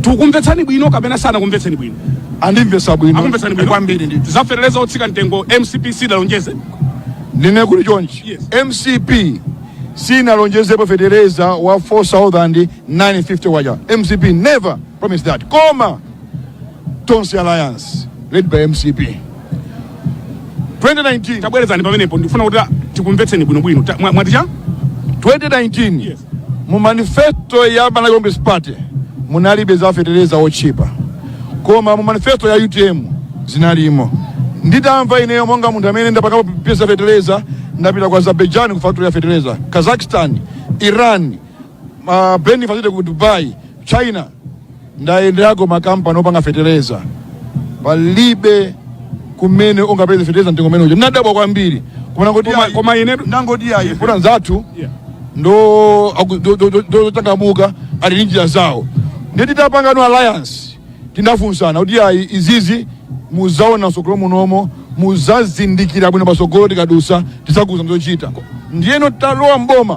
takumvetsani bwino kapena sanakumvetseni bwino andimvesa bwino akumvetsani bwino kwambiri ndi za fetereza otsika mtengo mcp sidalonjeze ndinene kuti chonchi Yes. mcp sinalonjezepo fetereza wa 4950 uja mcp never promised that koma Tonse Alliance led by MCP 2019 tabwerezani pamenepo ndikufuna kuti tikumvetseni bwinobwino Ta- mwa- mwati cha 2019 Yes. mu manifesto ya Malawi Congress Party munalibe za fetereza otchipa koma mu manifesto ya UTM zinalimo nditamva ineyo monga munthu amene ndapangapo za fetereza ndapita ku Azerbaijan ku factory ya fetereza Kazakhstan Iran ma blending facility ku dubai china ndayenderako makampani opanga fetereza palibe kumene ungapeze fetereza mtengo umene uja nadabwa kwambiri kunena kuti Koma- koma ine ndangoti ayi mwina anzathu Yeah. ndo aku- do- do- do- do- ndochangamuka ali ndi njira zawo ndiye titapangano alliance tinafunsana kuti ayi izizi muzaona msogolo munomo muzazindikira bwino pasogolo tikadusa tizakuuzani zochita ndiyeno talowa mboma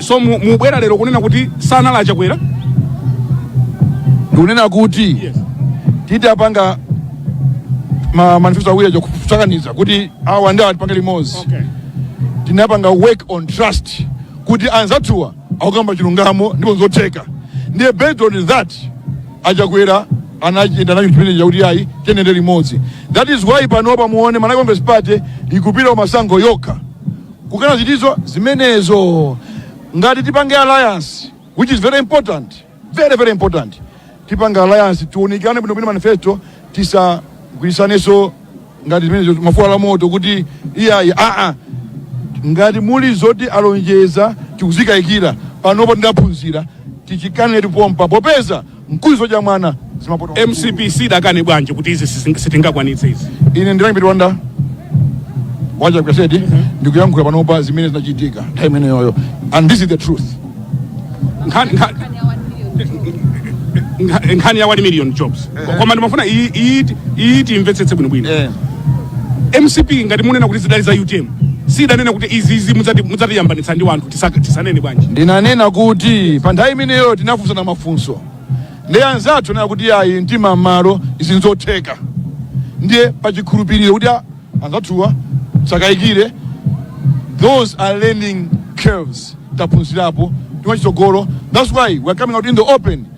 so mu- mubwera lero kunena kuti sanali achakwera ndikunena kuti titapanga ma manifesto awiri aja kusakaniza kuti awa ndi awa tipanga limodzi tinapanga work on trust kuti anzathuwa akukamba chilungamo ndipo nzotheka ndiye based on that achakwera anachita nacho chipinda chakuti ayi tiyendere limodzi that is why panopa muone malawi congress party ikupita masankho yokha kukana zinthuzo zimenezo ngati tipange alliance which is very important very very important tipange alliance tiunikane bwino bwino manifesto tisagwirisaneso ngati zimenezo mafuwa la moto kuti iyayi aa ngati muli zoti alonjeza tikuzikayikira panopo tidaphunzira tichikanetu pompa popeza mkuliso cha mwana zimapoto mcp sidakane bwanji kuti izi sisi- sitingakwanitse izi ine ndilangipita wanda wacha kaseti ndikuyankhula panopa zimene zinachitika nthawi imeneyoyo and this is the truth Nkhani- nkha- nkha- nkhani ya 1 million jobs koma ndimafuna iyi- iyi iyi timvetsetse bwinobwino eh. mcp ngati munena kuti zidali za utm sidanena kuti izizi mudzatiyambanitsa ndi wanthu Tisa- tisanene bwanji ndinanena kuti pa nthawi imeneyo tinafunsana mafunso ndi anzathu anena kuti ayi mtima mmalo izi nzotheka ndiye pachikhulupiriro kuti a- anzathuwa sakayikire those are learning curves taphunzirapo timachitsogolo that's why we are coming out in the open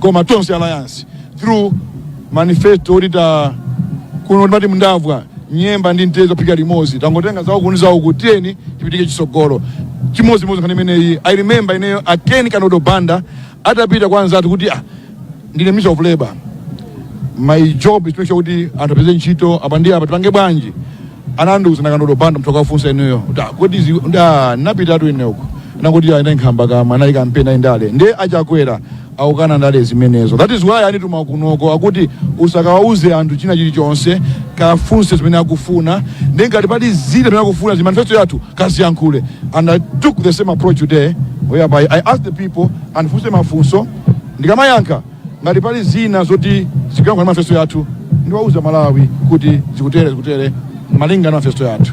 koma tonse alliance through manifesto akuti kuno timati ndavwa nyemba ndi mtedza phika limodzi tangotenga zawo kuni zawo kuti tiyeni tipitike chisogolo chimodzimodzi nkhani imeneyi i remember ineyo a ken kandodo banda atapita kwa anzathu kuti ah, ndine minister of labor my job is to make sure kuti anthu apeze ntchito apa ndi apa tipange bwanji anandiuza a kandodo banda munthu akafunsa inuyo kuti ah, kodi zi- ndi ah, ndinapitatu ine uko nkuti ayi nkhamba kama anali kampeni ayi ndale ndiye a chakwera akukana ndale zimenezo that is why anituma kunoko akuti usakawauze anthu china chilichonse kafunse zimene akufuna ndi ngati pali zina zimene akufuna zi manifesto yathu kaziyankhule and i took the same approach today whereby i asked the people andifunse mafunso ndikamayankha ngati pali zina zoti zikuyankhula ndi manifesto yathu ndiwauza amalawi kuti zikutere zikutere malinga na manifesto yathu